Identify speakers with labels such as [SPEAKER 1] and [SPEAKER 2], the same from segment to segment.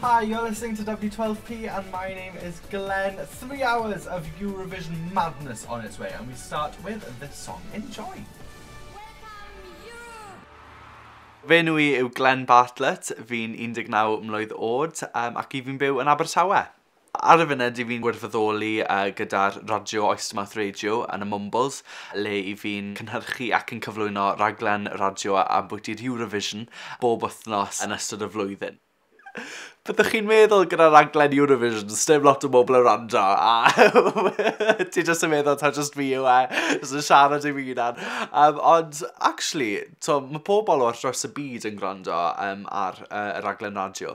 [SPEAKER 1] Hi, you're listening to W12P and my name is Glenn. Three hours of Eurovision madness on its way and we start with this song. Enjoy! Fe nhw i yw Glenn Bartlett, fi'n 19 mlwydd oed um, ac i fi'n byw yn Abertawe. Ar y funud dw i'n gwirfoddoli gyda'r radio Oystermouth Radio yn y Mwmbwls, le i fi'n cynhyrchu ac yn cyflwyno rhaglen radio ambwyti'r Eurovision bob wythnos yn ystod y flwyddyn. Byddwch chi'n meddwl gyda rhaglen Eurovision, sdim lot o bobl yn rando, a ti jyst yn meddwl ta jyst fi yw e, jyst yn siarad i fi hunan. Um, ond, actually, to, mae pobl o'r dros y byd yn gwrando um, ar uh, y raglen radio.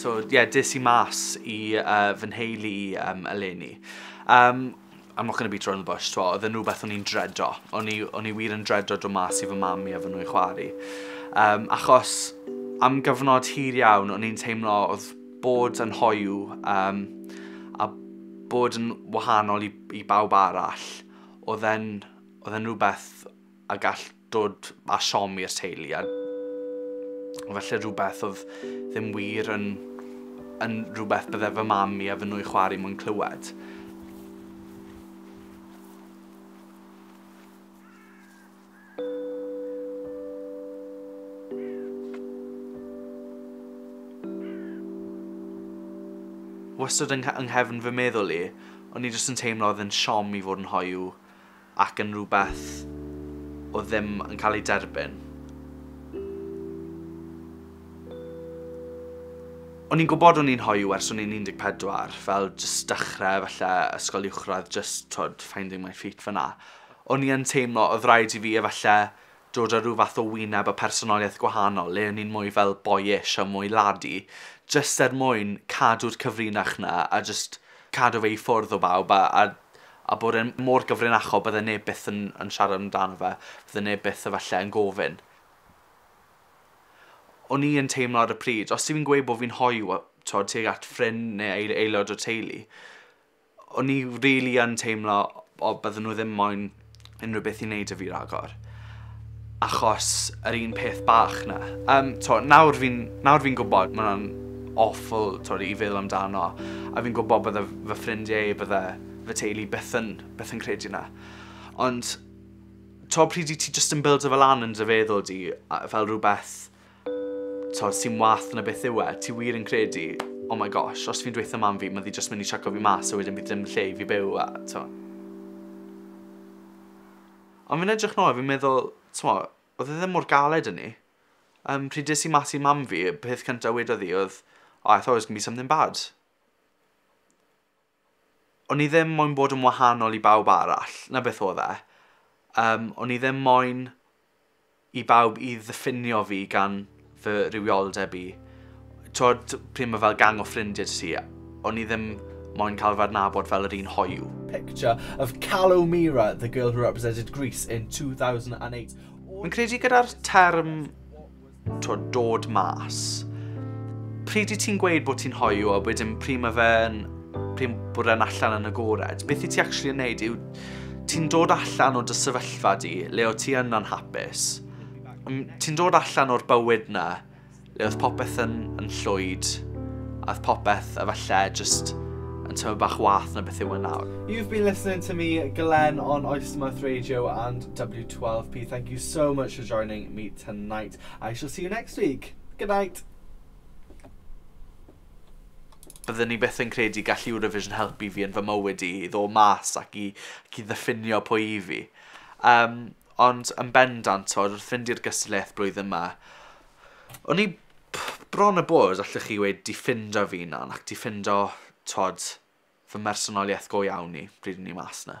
[SPEAKER 1] So yeah, des i mas i uh, fy nheulu i um, eleni. Um, I'm not going to be thrown the bush, twa, oedd yn rhywbeth o'n i'n dredo. O'n i, o'n i wir yn dredo do mas i fy mam i a fy nhw'n chwari. Um, achos am gyfnod hir iawn, o'n i'n teimlo oedd bod yn hoyw um, a bod yn wahanol i, i bawb arall, oedd e'n oedd e'n rhywbeth a gall dod â siom i'r teulu a felly rhywbeth oedd ddim wir yn, yn rhywbeth bydde fy mam i a fy nwy chwarae mwyn clywed. Wastad yng yng nghefn fy meddwl i, o'n i jyst yn teimlo oedd e'n siom i fod yn hoyw ac yn rhywbeth oedd ddim yn cael ei derbyn. O'n i'n gwybod o'n i'n hoyw ers o'n i'n 14, fel jyst dechrau falle ysgol uwchradd, jyst twyd, finding my feet fyna. O'n i yn teimlo oedd rhaid i fi efallai dod â rhyw fath o wyneb a phersonoliaeth gwahanol le o'n i'n mwy fel boyish a mwy laddie jyst er mwyn cadw'r cyfrinach 'na a jyst cadw fe i ffwrdd o bawb a a a bod e'n mor gyfrinachol bydde neb byth yn yn siarad amdano fe, bydde neb byth efallai yn gofyn. O'n i yn teimlo ar y pryd os yw fi'n gweud bod fi'n hoyw t'od tuag at ffrind neu aelod o'r teulu O'n i rili yn teimlo o bydden nhw ddim moyn unrhyw beth i wneud 'da fi ragor achos yr un peth bach 'na. Yym, t'wo' nawr fi'n nawr fi'n gwbod ma' wnna'n awful t'wod i feddwl amdano a fi'n gwbo bydde f- fy ffrindie i bydde fy teulu byth yn byth yn credu 'na ond t'wo' pryd i ti jyst yn bildio fe lan yn dy feddwl di a- fel rwbeth t'od sy'n wath na beth yw e, ti wir yn credu oh my gosh os fi'n dweutha mam fi ma' ddi jyst myn' i chuco fi mas a wedyn bydd dim lle i fi byw a t'mo'. Ond fi'n edrych nôl a fi'n meddwl t'mo' odd e ddim mor galed â 'ny. Yym pryd es i mas i mam fi y peth cynta wedodd hi odd oh I thought it was gonna be something bad. o'n i ddim moyn bod yn wahanol i bawb arall, na beth oedd e. Um, o'n i ddim moyn i bawb i ddiffinio fi gan fy rhywioldeb i. Twod, pryd mae fel gang o ffrindiau ti, o'n i ddim moyn cael fy adnabod fel yr un hoiw. Picture of Calo Mira, the girl who represented Greece in 2008. Fi'n credu gyda'r term to dod mas. Pryd i ti'n gweud bod ti'n hoiw a wedyn pryd mae fe'n pryd bod e'n allan yn agored. Beth i ti actually yn neud yw ti'n dod allan o dy sefyllfa di le o ti yn anhapus. Ti'n dod allan o'r bywyd na le oedd popeth yn, yn llwyd a oedd popeth efallai just yn tyfu bach wath na beth yw yn e nawr. You've been listening to me, Glenn, on Oystermouth Radio and W12P. Thank you so much for joining me tonight. I shall see you next week. Good night! Byddwn ni byth yn credu gall Eurovision helpu fi yn fy mywyd i, i ddo mas ac i, ac i ddiffinio pwy i fi. Um, ond yn bendant, tod, wrth fynd i'r gystadleuaeth blwyddyn yma, o'n i bron y bod, allwch chi wedi ffindo fi nan, ac di ffindo, tod, fy mhersonoliaeth go iawn i bryd o'n i mas 'na.